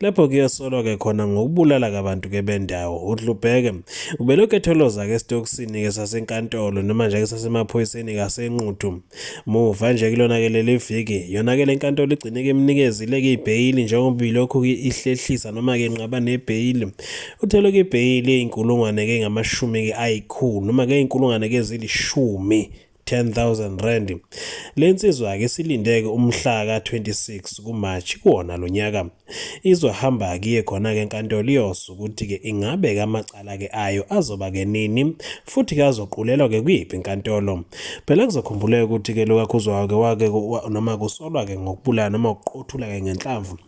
Lapho kuyosolwa-ke khona ngokubulala-ke abantu-ke bendawo. UDlubheke ubelokhu etholoza-ke esitokisini-ke sasenkantolo noma nje-ke sasemaphoyiseni kasenquthu. Muva nje kulona-ke leli viki, yona-ke le nkantolo igcine-ke imnikezile-ke ibheyili njengoba ilokhu-ke ihlehlisa noma-ke inqaba nebheyili. Uthelwe-ke ibheyili eyinkulungwane-ke ngamashumi-ke ayikhulu noma-ke eyinkulungwane-ke ezilishumi 10,000 rand. Le nsizwa-ke isilindeke umhla ka-26 kuMarch kuwona lo nyaka. Izohamba kiye khona-ke enkantolo iyosho ukuthi-ke ingabe ke amacala-ke ayo azoba-ke nini futhi ke azoqulelwa-ke kuyiphi inkantolo. Phela kuzokhumbuleka ukuthi-ke lo kaKhuzwayo-ke wake noma kusolwa-ke ngokubulala noma ukuqothula-ke ngenhlamvu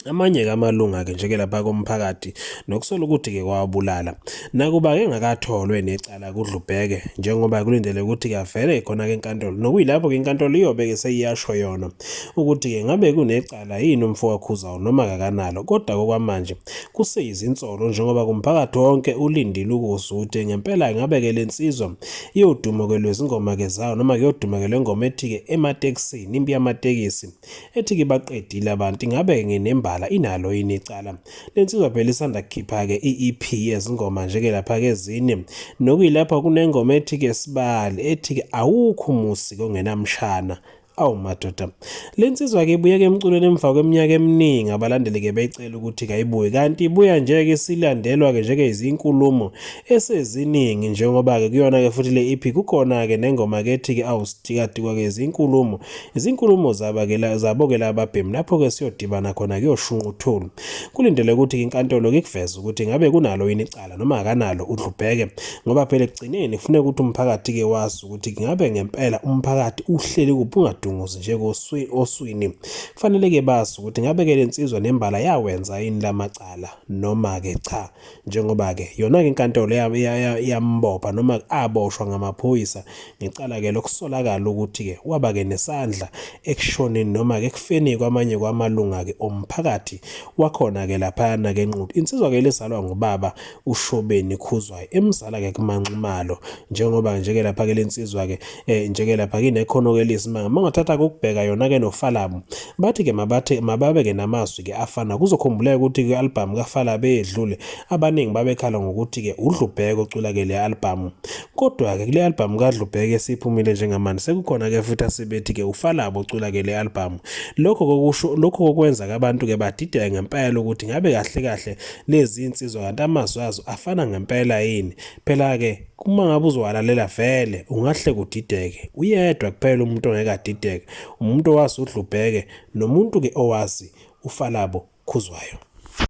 Amanye kamalunga-ke njeke lapha komphakathi nokusola ukuthi-ke kwawabulala nakuba engakatholwe necala kudlubheke njengoba kulindele ukuthi-ke avele khona-ke enkantolo nokuyilapho-ke inkantolo iyobe-ke seyiyasho yona ukuthi-ke ngabe kunecala yini umfowakhuzawo noma kakanalo kodwa kokwamanje kuseyizinsolo njengoba kumphakathi wonke ulindile ukuzuthi ngempela ngabe-ke le nsizwa iyoduma-ke lwezingoma-ke zayo noma kuyoduma-ke le ngoma ethi-ke ematekisini impi yamatekisi ethi ke baqedile abantu ingabe nginembala inalo yini icala lensizwa phela isanda kukhipha ke iEP yezingoma nje ke lapha ke zini nokuyilapha kunengoma ethi ke sibali ethi ke awukho umusi kongenamshana awu madoda le nsizwa ke ibuye ke emculweni emva kweminyaka eminingi abalandeli ke becela ukuthi kayibuye kanti ibuya nje ke silandelwa ke njeke izinkulumo eseziningi njengoba ke kuyona ke futhi le EP kukhona ke nengoma ke ethi ke awusithikadikwa ke izinkulumo Izinkulumo zabakela zabokela ababhemu lapho-ke siyodibana khona kuyoshunqa uthuli. Kulindele ukuthi inkantolo kikuveze ukuthi ngabe kunalo yini icala noma akanalo udlubheke ngoba phela ekugcineni kufuneka ukuthi umphakathi-ke wazi ukuthi ngabe ngempela umphakathi uhleli kuphi ungadunguzi nje oswini. Kufanele-ke bazi ukuthi ngabe-ke le nsizwa nembala yawenza yini la macala noma-ke cha. njengoba-ke yona-ke inkantolo yambopha noma aboshwa ngamaphoyisa ngecala-ke lokusolakala ukuthi-ke waba-ke nesandla ekushoneni noma-ke ekufeni kwamanye kwamalunga-ke omphakathi wakhona-ke laphayana-ke enquthu insizwa-ke lizalwa ngubaba ushobeni khuzwayo emzala-ke kumanxumalo njengoba nje-ke lapha-ke le nsizwa-ke eh nje ke lapha kine khono ke lisimanga mangathatha ukubheka yona ke nofalamu bathi ke mabathe mababe ke namazwi ke afana kuzokhumbuleka ukuthi ke album kafala beyedlule abaningi babekhala ngokuthi ke udlubheko ocula ke le album kodwa ke kule album kadlubheke siphumile njengamanje sekukhona ke futhi asebethi ke ufalabo ocula ke le album lokho kokusho lokho kokwenza ke abantu ke badideka ngempela ukuthi ngabe kahle kahle lezi insizwa kanti amazwi azo afana ngempela yini Phela-ke uma ngabe uzowalalela vele ungahle kudideke uyedwa kuphela umuntu ongeke adideke umuntu owazi udlubheke nomuntu-ke owazi ufalabo khuzwayo